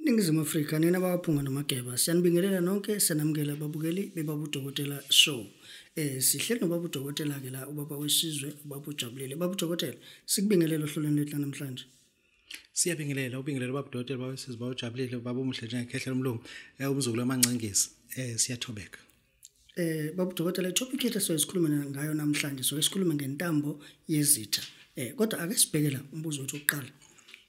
iningizimu afrika nina bakaphunga nomageba siyanibingelela nonke siyanamukela ababukeli bebabudokotela show um eh, sihleli nobabudokotela-ke la ubaba wesizwe ubaba ujabulile babudokotela sikubingelela ohlolweni lwethu lanamhlanje siyabingelela ubingelela ubabudokotela babesizwe bawujabulile baba omuhle njengekhehla lomlungu eh, umzukulu wamangcingisi um eh, siyathobeka Eh babu dokotela topic yethu soyisikhuluma ngayo namhlanje so isikhuluma ngentambo yezitha. Eh kodwa ake sibhekela umbuzo wethu oqala.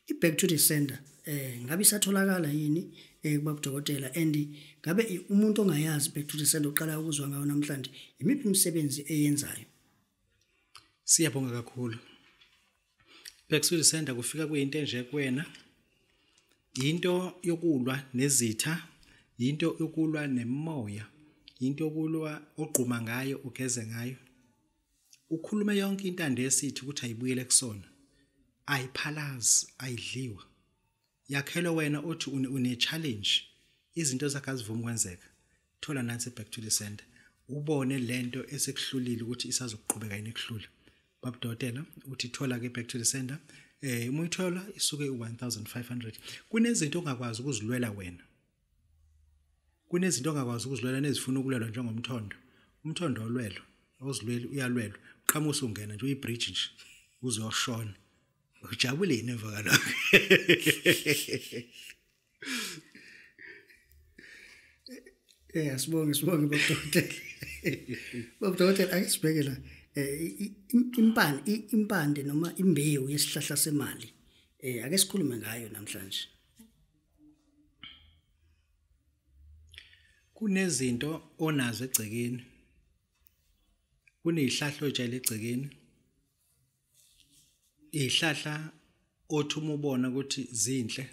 I back to the sender eh ngabe isatholakala yini eh babu dokotela and ngabe umuntu ongayazi back to the sender oqala ukuzwa ngayo namhlanje imiphi imisebenzi eyenzayo? Siyabonga kakhulu. Bekusulisenda kufika kuyinto enje kuwena. Yinto yokulwa nezitha, yinto yokulwa nemoya, yinto yokulwa ogquma ngayo ugeze ngayo. Ukhulume yonke intando esithi ukuthi ayibuyele kusona. Ayiphalazi, ayidliwa. Yakhelo wena othi une challenge izinto zakhe azivumi kwenzeka. thola nansi back to the center ubone lento esekuhlulile ukuthi isazoqhubeka yini ekuhlula baba dokotela uthi thola ke back to the center eh uma uyithola isuke u1500 kunezinto ongakwazi ukuzilwela wena kunezinto ongakwazi ukuzilwela nezifuna ukulwelwa njengomthondo umthondo olwelwa ozilweli uyalwelwa uqhamusa ungena nje uyibridge nje uzoshona ujabule yini emva kalokho Eh asibonge sibonge babudokotela. Babudokotela ake sibheke la. Eh impande impande noma imbewu yesihlahla semali. Eh ake sikhulume ngayo namhlanje. Kunezinto onazo egcekeni. Kunezihlahla ojayele egcekeni. ihlahla othi uma ubona ukuthi zinhle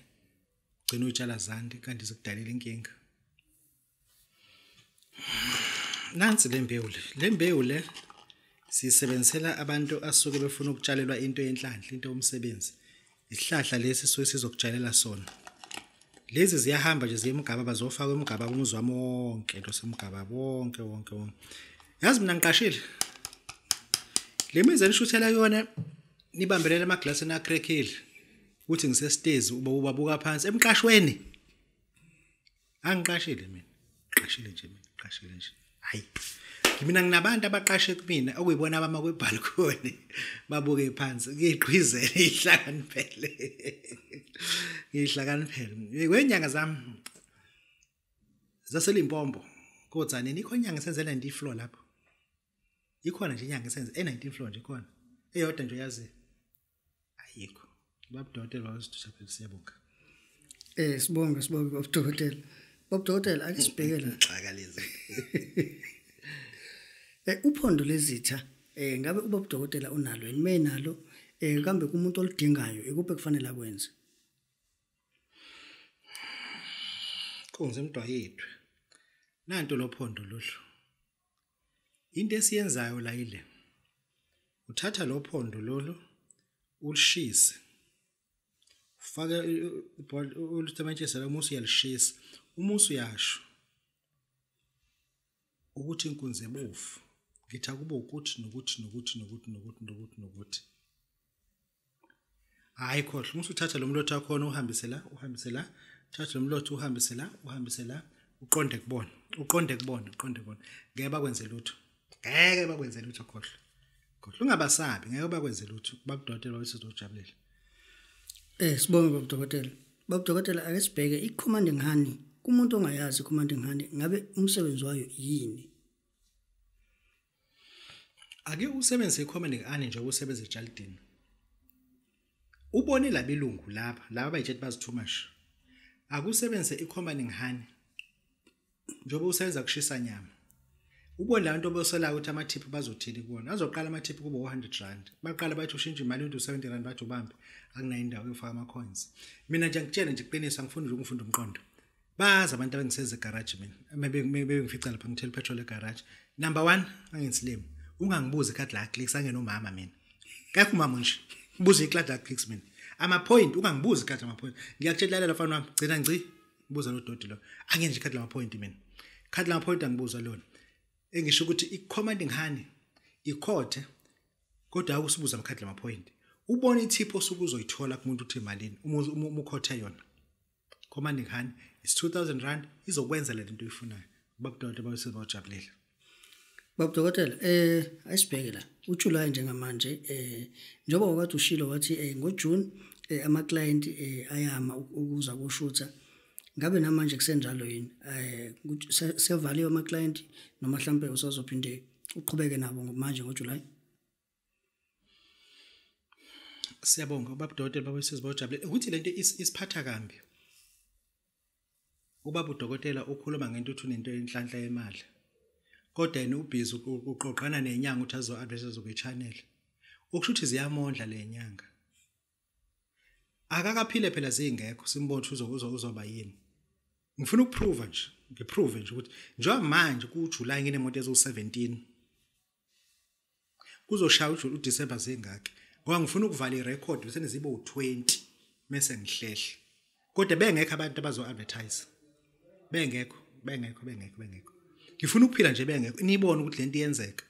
gcina utshala zandi kanti zikudalela inkinga nansi le mbewu le le mbewu le sisebenzisela abantu asuke befuna ukutshalelwa into yenhlanhla into yomsebenzi isihlahla lesi suke sizokutshalela sona lezi ziyahamba nje ziye emgaba bazofaka emgaba umuzi wami wonke into semgaba wonke wonke wonke yazi mina ngiqashile le mizi enishuthela kuyona nibambelele emaglasini acrackile ukuthi ngisestezi uba ubabuka phansi emqashweni angiqashile mina qashile nje mina qashile nje hayi mina nginabantu abaqashe kumina okuyibona abama kwebhalcony babuke phansi ngiyigqwizele ihlakaniphele ngihlakaniphele kwenyanga zami zaselimpombo kodwa nini ikhonyanga senzela ndi floor lapho ikhona nje inyanga esenze e19 floor nje ikhona eyodwa nje uyazi ayikho babudokotela bazoshaphe siyabonga eh sibonge sibonge babudokotela babudokotela akisibhekela xaka lezi eh uphondo lezitha eh ngabe ubabudokotela unalo yini menalo eh kambe kumuntu oludingayo ikuphi kufanele akwenze kunze mntwa yethu nanto lophondo lolu Into esiyenzayo la ile. Uthatha lo phondo lolu ulishise. Ufake ulutamatshisa la umusi uyalishisa. Umusi uyasho ukuthi inkunzi ebovu. Ngithi akube ukuthi nokuthi nokuthi nokuthi nokuthi nokuthi nokuthi. hayi khohle uma usuthatha lo mlotha wakhona uhambise la uhambise la thatha lo mlotha uhambise la uhambise la uqonde kubona uqonde kubona uqonde kubona ngeke bakwenze lutho ngeke bakwenze lutho khohle khohle ungabasabi ngeke bakwenze lutho bakudokotela wayesozojabulela eh sibonge babudokotela babudokotela ake sibheke i-commanding honey kumuntu ongayazi i-commanding honey ngabe umsebenzi wayo yini ake usebenzise ikhomende ngane njengoba usebenza ejalidini ubone labelungu laba laba bayitshela bazi too much akusebenzise ikhomende ngane njengoba usebenza kushisa nyama ubone labantu obosolayo ukuthi amathiphu bazothini kubona azoqala amathiphu kubo 100 rand baqala bathi ushintshe imali into 70 rand bathi ubambe akunayo indawo yofaka ama coins mina nje ngitshele nje iqiniso angifuni nje ukufunda umqondo bazi abantu abangiseza egarage mina bebengifica lapha ngithela upetrol egarage number one anginsilimi ungangibuzi ikhadi la clicks angenomama mina kakho umama nje ngibuze ikhadi la clicks mina amapoint ungangibuzi ikhadi lamapoint ngiyakutshelala mfana wami gcina ngci ngibuza lo doti lo angenje ikhadi lamapoint mina ikhadi lamapoint angibuza lona engisho ukuthi i-commanding honey ikhothe kodwa akusibuza amakhadi lamapoint ubona ithipho osuke uzoyithola kumuntu uthi malini uma ukhothe yona komandi khani is 2000 rand izokwenza le nto uyifunayo babudokotela babese bawujabulile babudokotela eh ayisibheke la uJuly njengamanje eh njengoba wakade ushilo wathi eh ngoJune eh, ama client eh, ayama ukuza kushutha ngabe namanje kusenjalo yini eh sevaliwe ama client noma mhlambe usazophinde uqhubeke nabo manje ngoJuly siyabonga ubaba udokotela baba usizi bojabule ukuthi lento isiphatha kambi ubaba udokotela ukhuluma ngento uthi unento enhlanhla yemali kodwa yena ubhizi uqoqana nenyanga ukuthi azo adresse zobe channel ukusho ukuthi ziyamondla le nyanga akakaphile phela zingekho simbona ukuthi uzokuzo uzoba yini ngifuna ukuprova nje ngiprove nje ukuthi njengoba manje kuJuly nginemoto ezo 17 kuzoshaya uJune uDecember zingaki ngoba ngifuna ukuvala irecord bese nizibe u20 mase ngihlehla kodwa bengekho abantu abazo advertise bengekho bengekho bengekho bengekho ngifuna ukuphila nje bengekho nibone ukuthi lento iyenzeka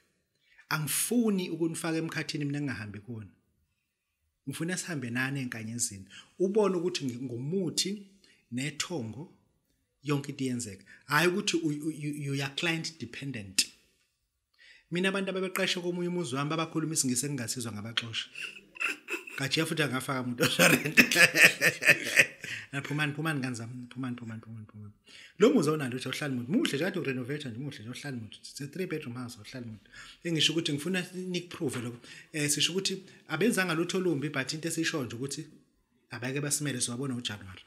angifuni ukunifaka emkhathini mina ngingahambi kuona ngifuna sihambe nani enkanyezini ubone ukuthi ngumuthi nethongo yonke into iyenzeka hayi ukuthi you are client dependent mina abantu abebeqeshe komunye umuzi wami babakhuluma isingisi engingasizwa ngabaxosha kajiya futhi angafaka umuntu oshorent phumani phumani kanzami phumani phumani phumani phumani lo muzi awunalo ukuthi awuhlali muntu muhle nje kade urenovate nje muhle nje awuhlali muntu it's a three bedroom house awuhlali muntu engisho ukuthi ngifuna nikuprove lokho eh sisho ukuthi abenzanga lutho olumbi but into esisho nje ukuthi abake basimele siwabona ngoJanuary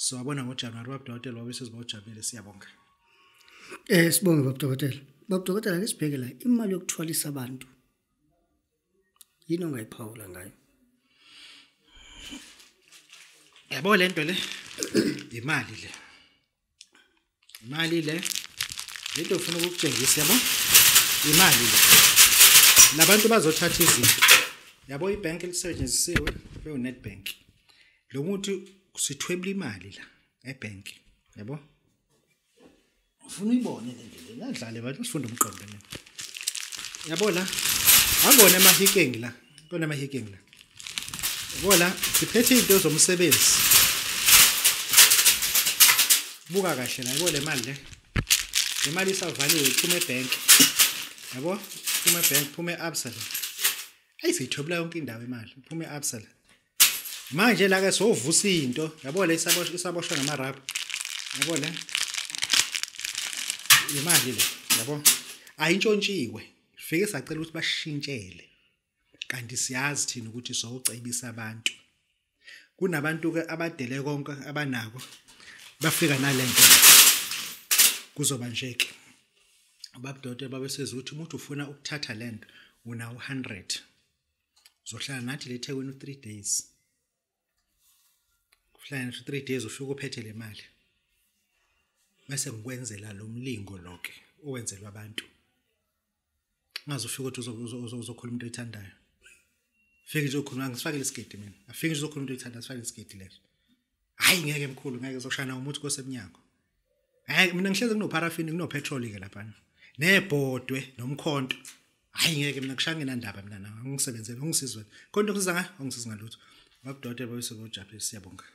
siwabona ngoJanuary babudokotela wabe sezibawujabulile siyabonga eh sibonge babudokotela babudokotela ngisibheke la imali yokuthwalisa abantu yini ongayiphawula ngayo yabo le nto le yimali le imali le le nto ufuna ukukutshengisa yabo imali le labantu bazothatha izinto yabo ibhenki elisetshenzisiwe bewunetbank lo muntu sithwebula imali la ebhenki yabo ufuna uyibone le ndlela ingadlale bathi usifunda umqondo mina yabo la angone amahikengi la kona amahikengi la yabo la siphethe izinto zomsebenzi buka kahle la yabo le mali le le mali isavaliwe iphuma ebank yabo iphuma ebank iphuma e-absa la ayi siyithobela yonke indawo imali iphuma e-absa la manje la ke sovusa into yabo le isaboshwa isaboshwa ngama rap yabo le imali le yabo ayintshontshiwe fike sacela ukuthi bashintshele kanti siyazi thina ukuthi sowucebisa abantu kunabantu ke abadele konke abanako bafika nalento kuzoba nje ke ubabdote babesezuthi umuntu ufuna ukuthatha lento una 100 uzohlala nathi le thekwini u-three days uhlala nathi u-three days ufike uphethe le mali bese ngikwenzela lo mlingo loke owenzelwa abantu ngaze ufike ukuthi uzokhuluma into oyithandayo fike nje ukhuluma ngisifakele isigidi mina afike nje uzokhuluma into oyithandayo sifakele isigidi leso hayi ngeke mkhulu ngeke uzoshana umuthi kosemnyango hayi mina ngihleze kunoparafini kunopetrol ke lapha nebhodwe nomkhonto hayi ngeke mina kushange nandaba mina nawe ungisebenzele ungisizwe konke okusiza nga ungisiza ngalutho babudokotela babese bojaphe siyabonga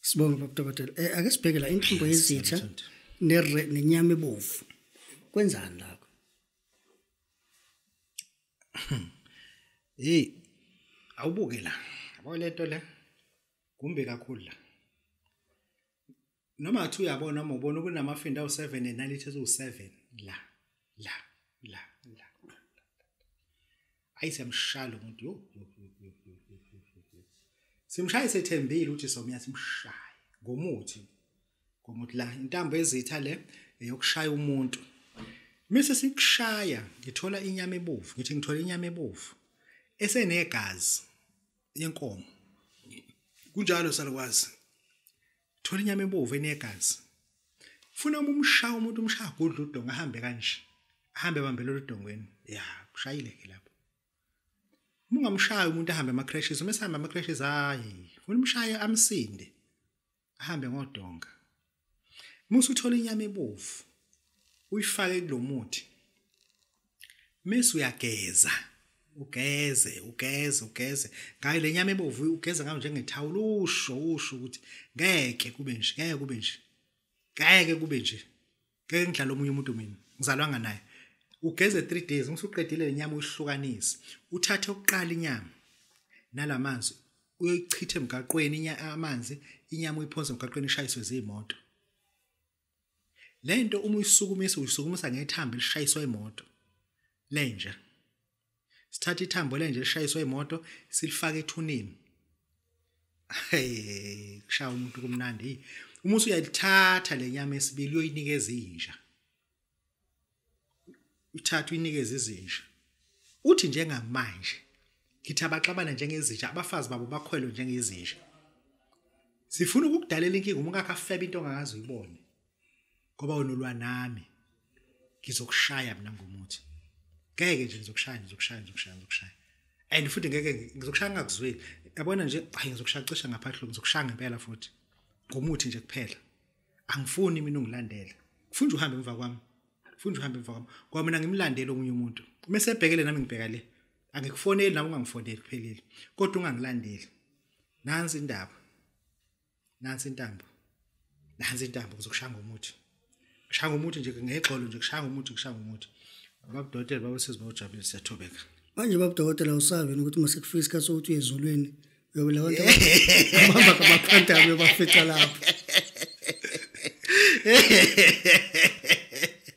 sibonga babudokotela eh ake sibheke la inhlungu yezitha nenyama ebovu kwenzani la hey awubuke la yabo lento le kumbi kakhulu la noma ngathi uyabona uma ubona kunamafinda awu-seven enalithi eziwu-seven la la la la ayi siyamshaya lo muntu yo simshaye sethembile ukuthi somuya simshaye ngomuthi ngomuthi la intambo ezitha le eyokushaya umuntu mise sikushaya ngithola inyama ebovu ngithi ngithola inyama ebovu esenegazi yenkomo kunjalo salukwazi thola inyama ebovu enegazi funa uma umshaya umuntu umshaya gudla udonga ahambe kanje ahambe bambele oludongweni ya ushayile ke lapho uma ungamshaya umuntu ahambe ama-crashes uma esihamba ama-crashes hayi funa umshaye amsinde ahambe ngodonga musu uthola inyama ebovu uyifake kulomuthi mese uyageza ugeze ugeze ugeze ngayo lenyama ebovu ugeza ngayo njengethawula usho usho ukuthi ngeke kube nje ngeke kube nje ngeke kube nje ngeke ngidlala omunye umuntu mina ngizalwanga naye ugeze 3 days ngisuqedile lenyama uyihlukanise uthathe oqala inyama nalamanzi uyoyichitha emgaqweni amanzi inyama uyiphonse emgaqweni ishayiswe zimoto lento uma uyisukumisa uyisukumisa ngethambo elishayiswa imoto lenja sithatha ithambo lenje lishayiswe imoto silifaka ethunini hey kushaya umuntu kumnandi uma usuyalithatha lenyama esibili uyoyinikeza inja uthatha uyinikeza izinja uthi njengamanje ngithi abaxabana njengezinja abafazi babo bakhwelwe njengezinja sifuna ukukudalela inkinga uma ungakafeba into ongazi uyibone ngoba wena ulwa nami ngizokushaya mina ngomuthi ngeke nje ngizokushaya ngizokushaya ngizokushaya ngizokushaya and futhi ngeke ngizokushaya ngakuzweli yabona nje hayi ngizokushaya cisha ngaphadlo ngizokushaya ngempela futhi ngomuthi nje kuphela angifuni mina ungilandele ngifuna nje uhambe emva kwami ngifuna nje uhambe emva kwami ngoba mina ngimlandele omunye umuntu uma esebhekele nami ngibheka le angikufoneli nami ungangifoneli kuphelile kodwa ungangilandeli nansi indaba nansi intambo nansi intambo kuzokushanga umuthi kushanga umuthi nje ngexolo nje kushanga umuthi kushanga umuthi babudokotela babesizi bawujabulile siyathobeka manje babudokotela usavini ukuthi uma sekufika isikhathi sokuthi uye ezulwini uyobe la bantu abahamba kabaphantaba uyobafica lapho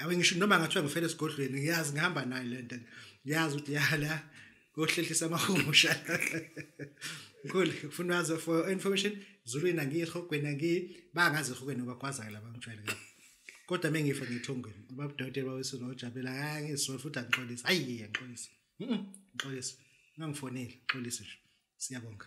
awe ngisho noma ngathiwa ngifele esigodlweni ngiyazi ngihamba nayo le nto ngiyazi ukuthi yala kohlehlisa amahumusha Cool. Funa wazi for information Zulwini angiyi ehogweni angiyi bangazi ehogweni bakwazayo laba ngijwayele kabi. Kodwa mengifa ngithongweni babudokotela bawesu nojabela angisifuni futhi angixolisa. Hayi ngixolisa. Mhm. Ngixolisa. Ngangifonile, ngixolisa nje. Siyabonga.